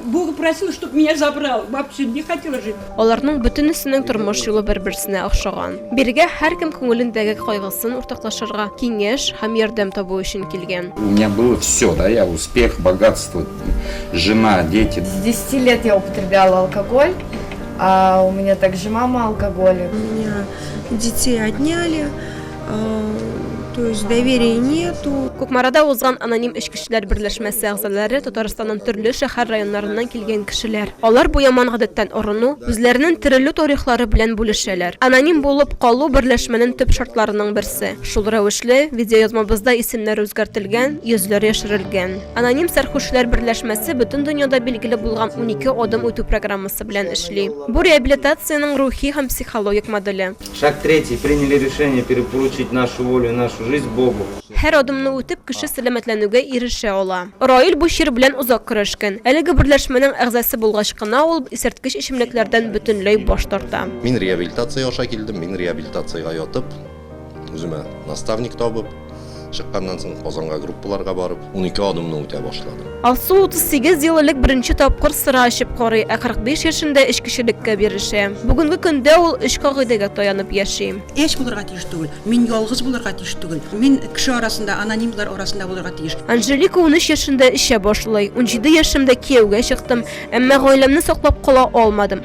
Богу просил, чтоб меня забрал. Вообще не хотела жить. Аларның бөтенесенең тормыш юлы бер-берсенә охшаган. Бирегә һәркем күңелендәге кайгысын уртаклашырга, киңәш һәм ярдәм табу өчен килгән. У меня было всё, да, я успех, богатство, жена, дети. С десяти лет я употребляла алкоголь, а у меня также мама алкоголик. У меня детей отняли. То есть доверия нету. Кукмарада узган аноним эчкечләр берләшмәсе әгъзалары Татарстанның төрле шәһәр районнарыннан килгән кешеләр. Алар бу яман гадәттән арыну, үзләренең терелү тарихлары белән бүлешәләр. Аноним булып калу берләшмәнең төп шартларының берсе. Шул рәвешле, видеоязмабызда исемнәр үзгәртелгән, йөзләр яшерелгән. Аноним сәрхүшләр берләшмәсе бөтен дөньяда билгеле булган унике адым үтү программасы белән эшли. Бу реабилитациянең рухи һәм психологик моделе. Шаг третий, приняли решение перепоручить нашу волю и нашу жизнь Богу. Һәр адымны үтеп, кеше сәламәтләнүгә ирешә ала. Раил бу чир белән озак көрәшкән. Әлеге берләшмәнең әгъзасы булгач кына ул исерткеч эчемлекләрдән бөтенләй баш тарта. Мин реабилитация аша килдем, мин реабилитациягә ятып, үземә наставник табып, Чыкканнан соң Казанга группаларга барып, 12 адымны үтә башладым. Алсу 38 ел элек беренче тапкыр сыра эчеп карый, ә 45 яшендә эчкечелеккә бирешә. Бүгенге көндә ул өч кагыйдәгә таянып яши. Эш булырга тиеш түгел. Мин ялгыз булырга тиеш түгел. Мин кеше арасында, анонимлар арасында булырга тиеш. Анжелика унөч яшендә эчә башлый. Унҗиде яшемдә кияүгә чыктым, әмма гаиләмне саклап кала алмадым.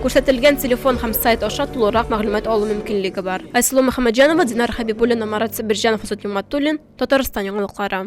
Күрсәтелгән телефон һәм сайт аша тулырак мәгълүмат алу мөмкинлеге бар. Айсылу Мөхәммәтҗанова, Динар Хәбибуллина, Марат Себерҗанов, Азат Юматуллин, Татарстан яңалыклары.